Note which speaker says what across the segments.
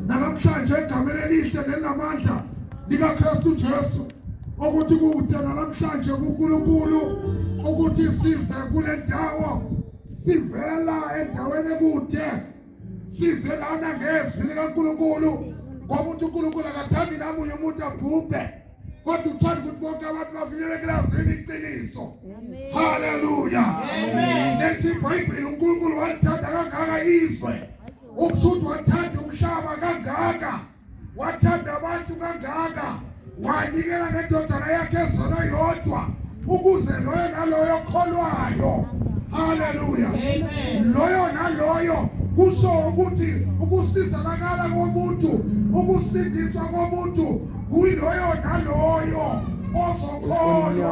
Speaker 1: Namhlanje egameni elihle nelinamandla likaKristu Jesu ukuthi kude namhlanje kuNkulunkulu ukuthi size kule ndawo sivela endaweni ekude size lana ngezwi likaNkulunkulu ngoba uthi uNkulunkulu akathandi namunye umuntu abhubhe kodwa uthanda ukuthi bonke abantu bafinyele ekilasini iqiniso haleluya nethi ibhayibhile unkulunkulu walithanda kangaka izwe Ukushuthi wathanda umhlaba kangaka, wathanda abantu kangaka, wanikela ngendodana yakhe ezona yodwa ukuze loyo naloyo kholwayo haleluya loyo naloyo kusho ukuthi ukusizakala komuntu ukusindiswa komuntu kuyiloyo naloyo ozokholwa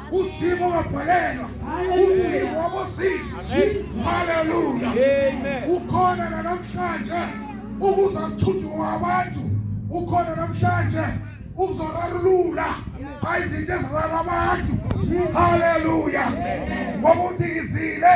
Speaker 1: Uzimo wabhalelwa uzimo wabozimo. Haleluya! Ukhona nanamhlanje ukuze akuthuthe kwabantu, ukhona namhlanje uzorarulula izinto ezirara abantu. Haleluya! Ngoba uthi ngizile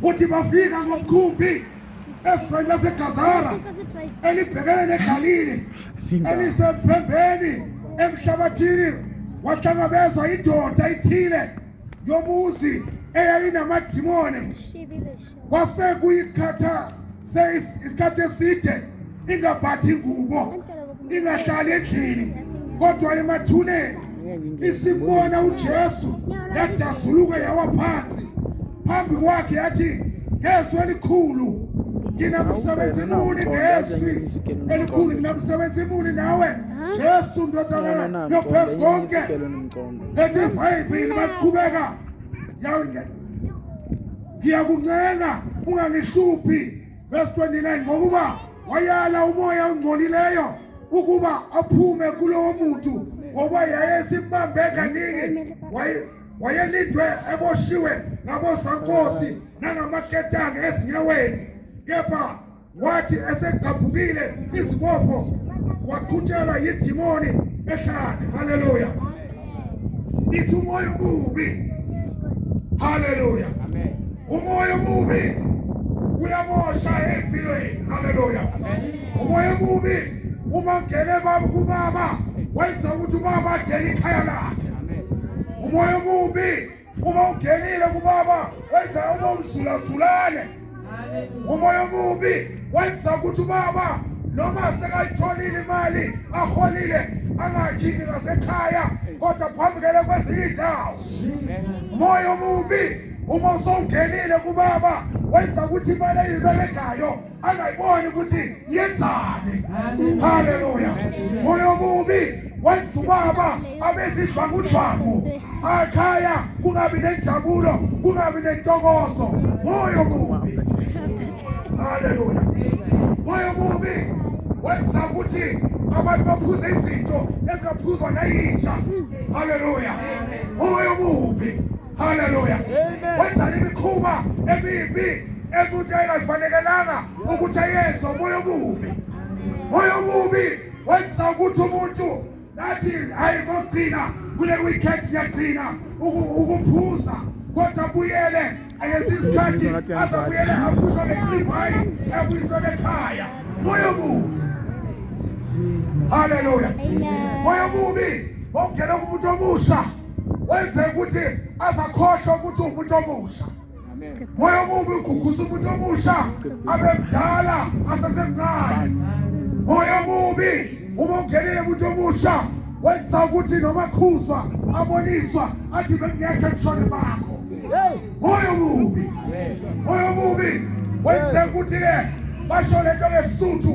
Speaker 1: kuthi bafika ngomkhumbi esifeni lasegadara elibhekene negalile elisemphembeni emhlabathini wahlangabezwa indoda ithile yomuzi eyayinamadimoni kwase kuyikhatha isikhathi eside ingabhathi ingubo ingahlali endlini kodwa emathuneni isibona uJesu yadazuluka yawa phansi phambi kwakhe yathi ngezwi elikhulu nginamsebenzi muni ngezwi elikhulu nginamsebenzi muni nawe Jesu ndodana yophezu konke ethi vayibhili baqhubeka ngiyakuncenga ungangihluphi verse 29 ngokuba wayala umoya ongcolileyo ukuba aphume kulowo muntu ngoba yayesimbambe kaningi wayelindwe eboshiwe ngabosankosi nangamaketanga ezinyaweni kepha wathi esegqabhukile izibopho waqhutshelwa yidimoni ehlane haleluya ithi umoya omubi haleluya umoya omubi uyamosha empilweni haleluya umoya omubi uma ngene baba kubaba wenza ukuthi ubaba adele ikhaya lakhe umoya omubi Uma ungenile kubaba wenza ubomzulazulane. Umoya omubi wenza ukuthi ubaba noma sekayitholile imali aholile angajiki ngasekhaya kodwa phambukele kwezinye indawo. Umoya omubi uma usongenile kubaba wenza ukuthi imali eyiberegayo angayiboni ukuthi yenzani haleluya moya omubi wenza ubaba abesidlwangudlwangu akhaya kungabi nenjabulo kungabi nentokozo moya omubi haleluya moya omubi wenza ukuthi abantu baphuze izinto ezingaphuzwa nayinja haleluya moya omubi Haleluya. Wenza imikhuba emibi emuntu engafanelanga ukuthi ayenze umoya omubi. Moya omubi wenza ukuthi umuntu nathi ayikogcina kule weekend yagcina ukuphuza kodwa buyele ayenza isikhathi azabuyele aphuzwa ngeklivayi ebuyiswe ekhaya. Moya omubi. Haleluya. Moya omubi ongena kumuntu omusha wenze ukuthi azakhohlwe ukuthi umuntu omusha moya omubi ugugusa umuntu omusha abemdala asesemncane moya omubi uma ungenele umuntu omusha wenza ukuthi noma khuzwa aboniswa athi bengekho ebushone bakho moya omubi moya omubi wenze ukuthi-ke basho le nto ngesisuthu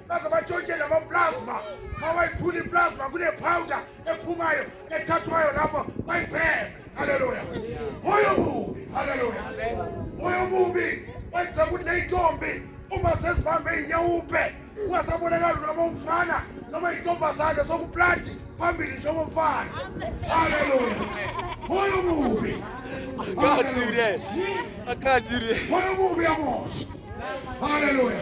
Speaker 1: baze batshontshe lamaplasma ma wayiphula iplasma kunepowuda ephumayo ethathwayo lapho bayibheme haleluya moya omubi haleluya moya omubi wenza ukuthi neyintombi uma sezibambe inyawupe ungasabonakali noma umfana noma intombazane sokuplati phambili njengoba mfana haleluya moya omubi akathire akathire moya omubi yamosha haleluya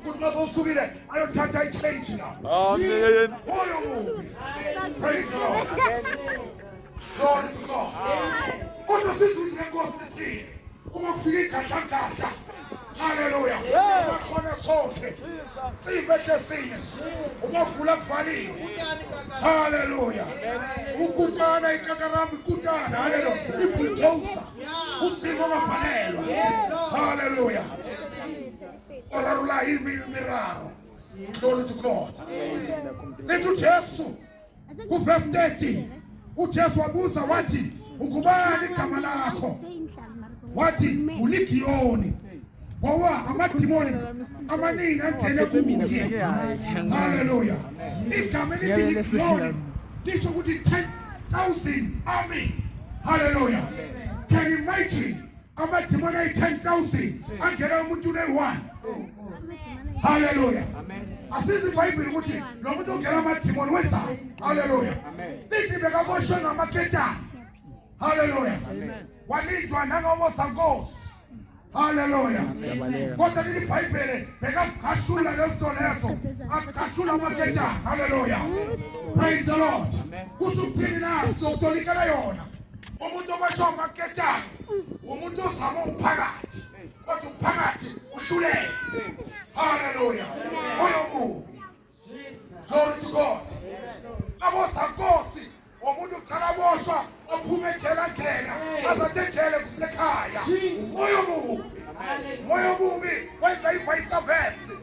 Speaker 1: ukuthi bazosukile ayothatha i-change la amen oyo mubi praise the lord glory to god kodwa sizwise nkosi lesini uma kufika igadlagadla haleluya bakhona sonke siyibehle sinye ungavula kuvaliwe haleluya ukutana ikakaramu ikutana haleluya ibhutosa usimo ongabhalelwa haleluya o rarula i miraro glory to god letha ujesu kuvesi 30 ujesu wabuza wathi ungubani igama lakho wathi uligiyoni ngoba amadimoni amaningi angene kuye haleluya igama elithi ligiyoni lisho ukuthi 10,000 army haleluya can you imagine amadimoni ayi-ten thousand angena umuntu uneyi-one haleluya asizi ibhayibhile ukuthi lo muntu ongena amadimoni wenzani haleluya lithi bekaboshwe ngamaketana haleluya walindwa nangomosa nkosi haleluya kodwa leli bhayibhele bekazigashula lezinto lezo agashula amaketana haleluya praise the lord kusho ukuthini na sokutolikela yona umuntu okwasho amaketanga umuntu ozama umphakathi kodwa umphakathi uhluleke haleluya oyo mubi glory to god abosankosi umuntu uqala boshwa ophume ejele angena azathi ejele kusekhaya umoya omubi umoya omubi wenza ivice versa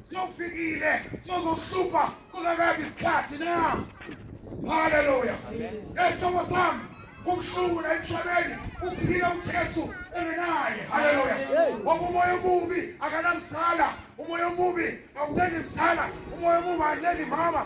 Speaker 1: Sofikile, sozohlupha kungakabi isikhathi na. Haleluya. Esithobo sami kubuhlungu la emhlabeni uphila uJesu engenaye. Haleluya. Ngoba umoya omubi akanamsala, umoya omubi awuthandi msala, umoya omubi awuthandi mama.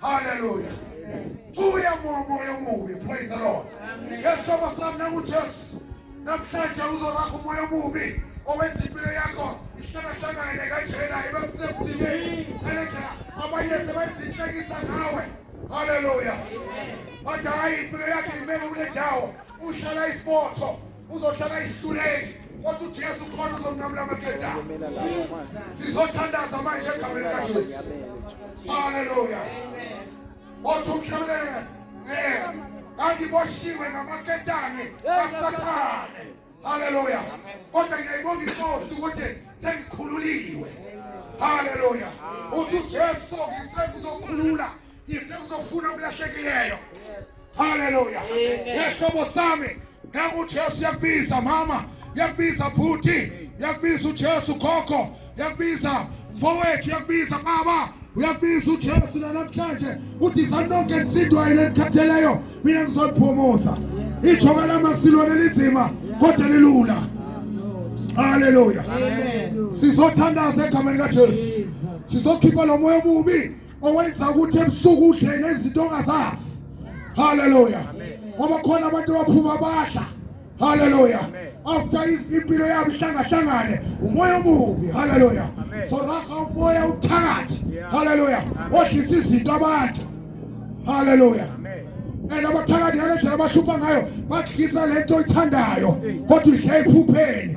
Speaker 1: Hallelujah. Buya moyo omubi. Praise the Lord. Ngesithoba sami nanguJesu. Namhlanje uzoraha umoya omubi owenza impilo yakho ihlangahlangane kanjena ibe msemthibeni. Ngalendlela abanye sebayizinhlekisa ngawe. Hallelujah. Bathi hayi impilo yakhe imele kule ndawo. Ushala isibotho. uzohlala isituleni kodwa uJesu khona uzonqamula amakhethana sizothandaza manje egameni kaJesu haleluya othi umhlabelele kanti boshiwe ngamaketane kasathane haleluya kodwa ngiyayibonga inkosi ukuthi sengikhululiwe haleluya uthi ujesu ngisekuzokhulula Ngise uzofuna okulahlekileyo. Haleluya. Yehlobo sami nangu uJesu yakubiza mama, yakubiza bhuti, yakubiza uJesu gogo, yakubiza mfowethu, yakubiza baba uyabiza ujesu nanamhlanje uthi sanonke nisindwayo nenikhatheleyo mina ngizoniphumuza ijoka lamasilwane linzima kodwa lilula haleluya sizothandaza egameni kajesu sizokhipha lo moya omubi owenza ukuthi ebusuku udle nezinto ongazazi haleluya ngoba khona abantu abaphuma badla haleluya after impilo yabo ihlangahlangane umoya omubi haleluya so raha umoya uthakathi haleluya odlisa izinto abantu haleluya and abathakathi ngalendlela abahlupha ngayo badlisa lento oyithandayo kodwa idla ephupheni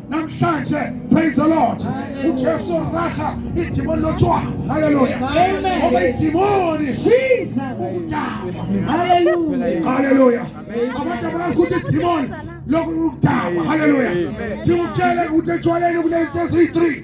Speaker 1: namhlanje praise the lord ujesu raha idimoni lotshwala haleluya ngoba idimoni haleluya abantu abazi ukuthi idimoni lokhu ukudakwa haleluya siwutshele ukuthi etshwaleni kunezinto eziyi-three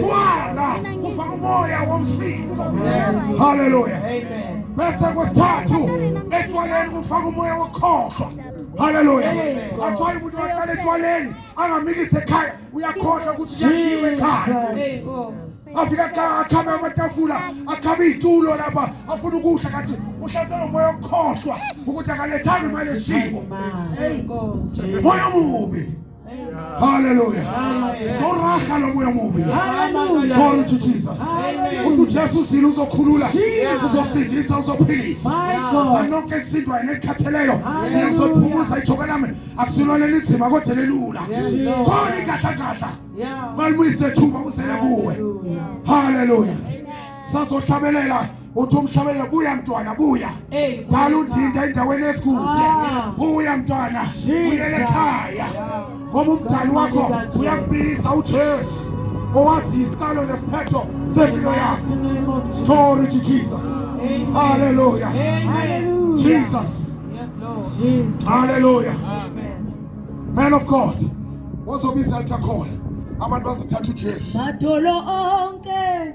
Speaker 1: Twala kufa umoya womsindo. Haleluya. Bese kwesithathu etshwaleni kufaka umoya wokhohlwa. Haleluya. Athiwa umuntu waqala etshwaleni angamikise ekhaya uyakhohlwa ukuthi kuyashiwe ekhaya. afika ka akhame amatafula akhame iy'tulo lapha afuna ukudla kanti uhlaselwa umoya okukhohlwa ukuthi akalethanga imali esiko moya omubi Haleluya. Soraha lo moya mubi. Glory to Jesus. Uthi uJesu uzile uzokhulula, uzosindisa, uzophilisa. Sanonke ekusindwayo nekhatheleyo, ngizophumuza ijoka lami. Akusilona elinzima kodwa elilula. Khona inkahlakahla. Balibuyise thuba kusele kuwe. Haleluya. Sazohlabelela uthi umhlabele buya mntwana buya qala undinda endaweni esikude ah. buya mntwana buyele ekhaya ngoba umdali wakho uyakubiza ujesu owazi isiqalo nesiphetho sempilo yakho glory to jesus haleluya jesus haleluya man of god wozobiza altakhona abantu bazothatha ujesu madolo onke